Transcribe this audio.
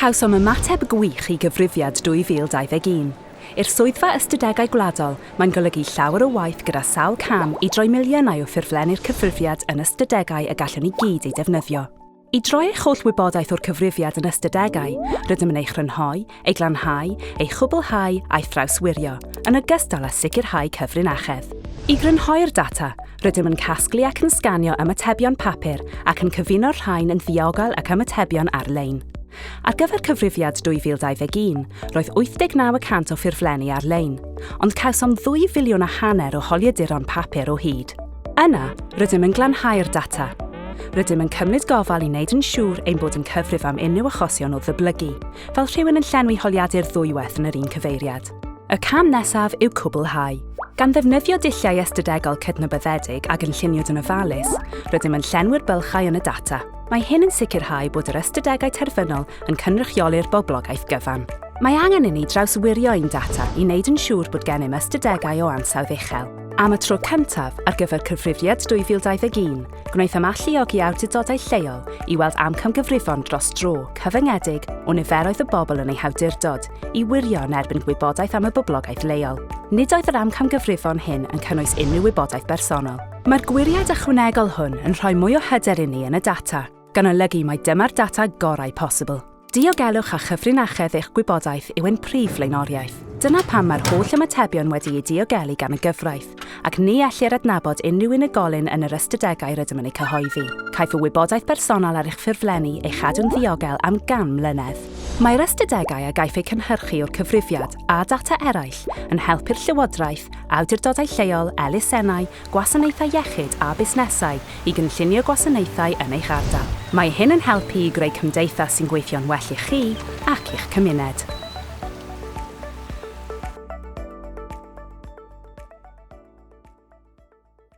Cawsom ymateb gwych i Gyfrifiad 2021. I'r Swyddfa Ystadegau Gwladol, mae'n golygu llawer o waith gyda sawl cam i droi miliynau o ffurflenni'r cyfrifiad yn ystadegau y gallwn ni gyd eu defnyddio. I droi eich holl wybodaeth o'r cyfrifiad yn ystadegau, rydym yn ei chrynhoi, ei glanhau, ei chwblhau a'i thrawswirio, yn ogystal â sicrhau cyfrinachedd. I grynhoi'r data, Rydym yn casglu ac yn sganio ymatebion papur ac yn cyfuno'r rhain yn ddiogel ac ymatebion ar-lein. Ar gyfer cyfrifiad 2021, roedd 89 y cant o ffurflenni ar-lein, ond cawsom ddwy filiwn a hanner o holiaduron papur o hyd. Yna, rydym yn glanhau'r data. Rydym yn cymryd gofal i wneud yn siŵr ein bod yn cyfrif am unrhyw achosion o ddyblygu, fel rhywun yn llenwi holiadur ddwywaith yn yr un cyfeiriad. Y cam nesaf yw cwblhau. Gan ddefnyddio dulliau ystadegol cydnabyddedig a gynlluniwyd yn ofalus, rydym yn llenwi'r bylchau yn y data. Mae hyn yn sicrhau bod yr ystadegau terfynol yn cynrychioli'r boblogaeth gyfan. Mae angen inni drawswirio ein data i wneud yn siŵr bod gennym ystadegau o ansawdd uchel. Am y tro cyntaf ar gyfer Cyfrifiad 2021, Gwnaethom alluogi awdurdodau lleol i weld amcamgyfrifon dros dro cyfyngedig o niferoedd y bobl yn eu hawdurdod i wirio yn erbyn gwybodaeth am y boblogaeth leol. Nid oedd yr amcamgyfrifon hyn yn cynnwys unrhyw wybodaeth bersonol. Mae'r gwiriad ychwanegol hwn yn rhoi mwy o hyder inni yn y data, gan olygu mai dyma'r data gorau posibl. Diogelwch a chyfrinachedd eich gwybodaeth yw ein prif flaenoriaeth. Dyna pam mae'r holl ymatebion wedi'u diogelu gan y gyfraith, ac ni ellir adnabod unrhyw unigolyn yn yr ystadegau rydym yn eu cyhoeddi. Caiff y wybodaeth bersonol ar eich ffurflenni ei chadw'n ddiogel am 100 mlynedd. Mae'r ystadegau a gaiff eu cynhyrchu o'r cyfrifiad, a data eraill, yn helpu'r Llywodraeth, awdurdodau lleol, elusennau, gwasanaethau iechyd a busnesau i gynllunio gwasanaethau yn eich ardal. Mae hyn yn helpu i greu cymdeithas sy'n gweithio'n well i chi ac i'ch cymuned.